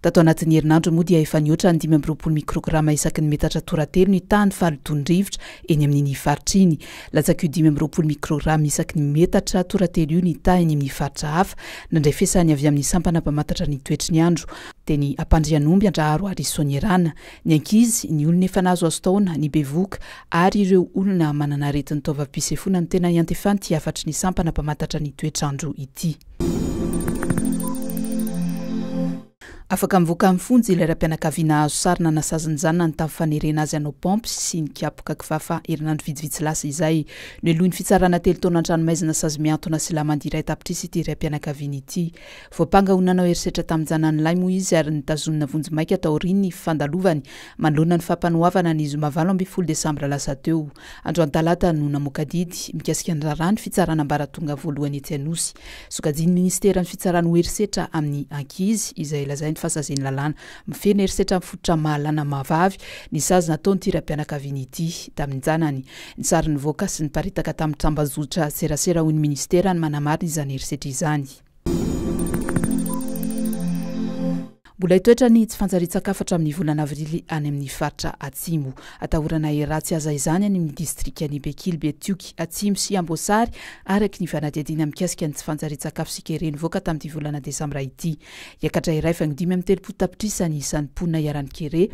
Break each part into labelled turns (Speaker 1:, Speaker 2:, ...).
Speaker 1: Tato anatin'ny herinandro moa dia efa nihoatra ny dimy amby roapolo mikrograma isaky ny metatra toratelo ny tahan'ny fahalotoan'ny rivotra eny amin'iny faritra iny. Latsak'io dimy amby roapolo mikrograma isaky ny metatra toratelo io ny taha eny amin'ny faritra hafa, nandray fiasany avy amin'ny sampana mpamantatra ny toetry ny andro, teny Ampandrianomby, Andraharo ary Soanierana. Ny ankizy, ny olona efa nahazoazo taona, ny bevohoka ary ireo olona manana aretin'ny taovam-pisefoana no tena iantefan'ity hafatry ny sampana mpamantatra ny toetr'andro ity. Afaka mivoaka amin'ny fonja ilay raim-pianakaviana hahazo sarona nasazin'ny zanany tamin'ny fanerena azy hanao paompy sy nikapoka kifafa herinandro vitsivitsy lasa izay. Nohelohin'ny fitsarana telo taona an-tranomaizina sazy mihantona sy lamandy iray tapitrisa ity raim-pianakaviana ity. Voampanga ho nanao herisetra tamin'ny zanany lahy moa izy ary notazonina vonjimaika taorian'ny fandalovany manoloana ny fampanoavana ny zoma valo ambin'ny folo desambra lasa teo. Androany talata no namoaka didy mikasika ny raharaha ny fitsarana ambaratonga voalohany etsy Anosy. Sokajian'ny minisiteran'ny fitsarana ho herisetra amin'ny ankizy izay lazainy fa sazin'ny lalàna mifehy ny herisetra amin'ny fototra mahalana maha-vavy ny sazy nataon'ity raim-pianakaviana ity tamin'ny zanany. Ny sary nivoaka sy niparitaka tamin'ny tambazotra serasera hoy ny minisitera ny manamary izany herisetra izany. Mbola hitoetra ny tsy fanjarian-tsakafo hatramin'ny volana avrily any amin'ny faritra Atsimo. Atahorana hiratsy haza izany any amin'ny distrikan'i Bekily, Betioky Atsimo sy Amboasary, araka ny fanadihadiana mikasika ny tsy fanjarian-tsakafo sy kere nivoaka tamin'ity volana desambra ity. Hiakatra iray faingo dimy amby telopolo tapitrisa ny isan'ny mponina iharan'ny kere,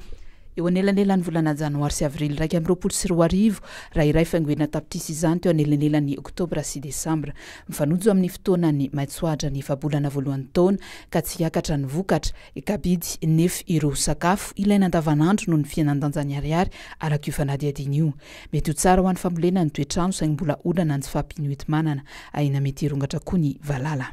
Speaker 1: eo anelanelan'ny volana janoary sy avrily iraika amby roapolo sy roa arivo, raha iray faingo enina tapitrisa izany teo anelanelan'ny oktobra sy desambra. Mifanojo amin'ny fotoanan'ny maitsoadran'ny efa-bolana voalohan'ny taona ka tsy hiakatra ny vokatra, kabidy, nef ireo sakafo ilaina andavanandro noho ny fihenan-danjan'ny ariary araka io fanadihadiana io. Mety ho tsara ho an'ny fambolena ny toetrano saingy mbola olana ny tsy fahampian'ny hoenti-manana, ahiana mety hirongatra koa ny valala.